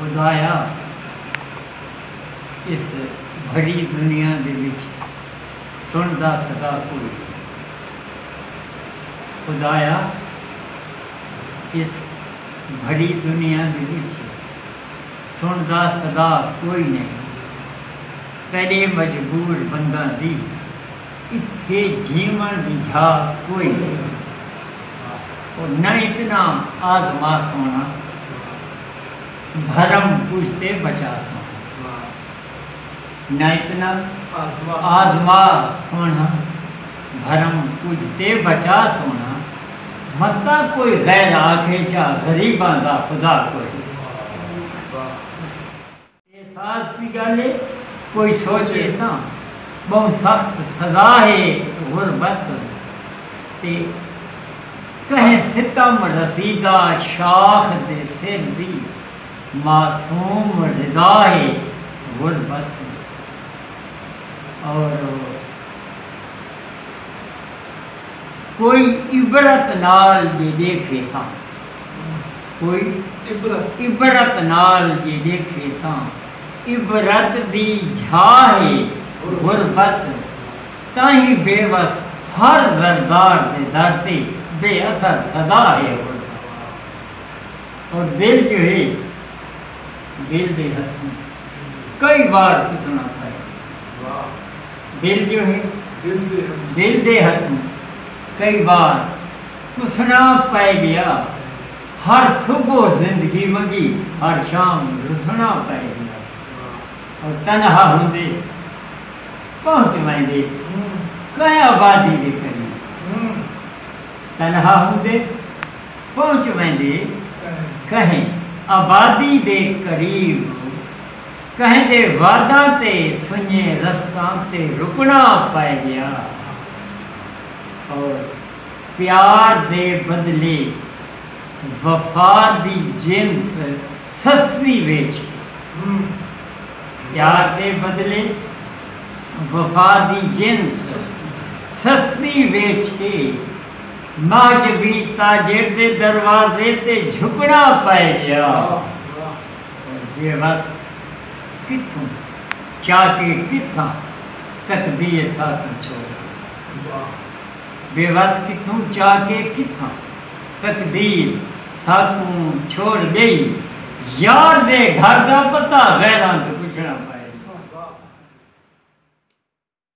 خدایا اس بھری دنیا دے وچ سنڑدا سدا کوئی خدایا اس بھری دنیا دے وچ سنڑدا سدا کوئی نئیں تیڈے مجبور بنداں دی اتھے جیون دی جھا کوئی نئیں او نہ اتنا آزما سونا بھرم کجھ تے بچا سونا نہ اتنا آزما سونا بھرم کجھ تے بچا سونا متہ کوئی غیر آکھے چا غریباں دا خدا کوئی نئیں۔ اے ساز دی گل اے کوئی سوچے تاں ٻہوں سخت سزا اے غربت تے کہیں ستم رسیدہ شاخ دے سر دی معصوم رضا اے غربت اور کوئی عبرت نال جے ݙیکھے تاں۔ کوئی عبرت نال جے ݙیکھے تاں عبرت دی جھاہ اے غربت تئیں بے وس ہر زردار دے در تے بے اثر سدا ہے غربت اور دل جو ہے دل دے ہتھوں کئی وار پسنا پئے دل جو ہے دل دے ہتھوں کئی وار تسناں پئے گیا ہر صبح زندگی ونگی ہر شام رسناں پئے گیا او تنہا ہوندے پہنچ ویندے کئیں آبادی دے قریب تنہا ہوندے پہنچ ویندے کہیں آبادی دے قریب کہیں دے واداں تے سنجے رستاں تے رکناں پئے گیا او پیار دے بدلے وفا دی جنس سستی ویچ کے پیار دے بدلے وفا دی جنس سستی ویچ کے محجبی تاجر دے دروازے تے جھکنا پئے ڳیا بےوس کتھوں چاکر کتھاں تقدیر ساکوں چھوڑ کے۔ بے وس کتھوں چا کے کتھاں تقدیر ساکوں چھوڑ گئی یار دے گھر دا پتہ غیراں توں پچھنڑاں پئے گا۔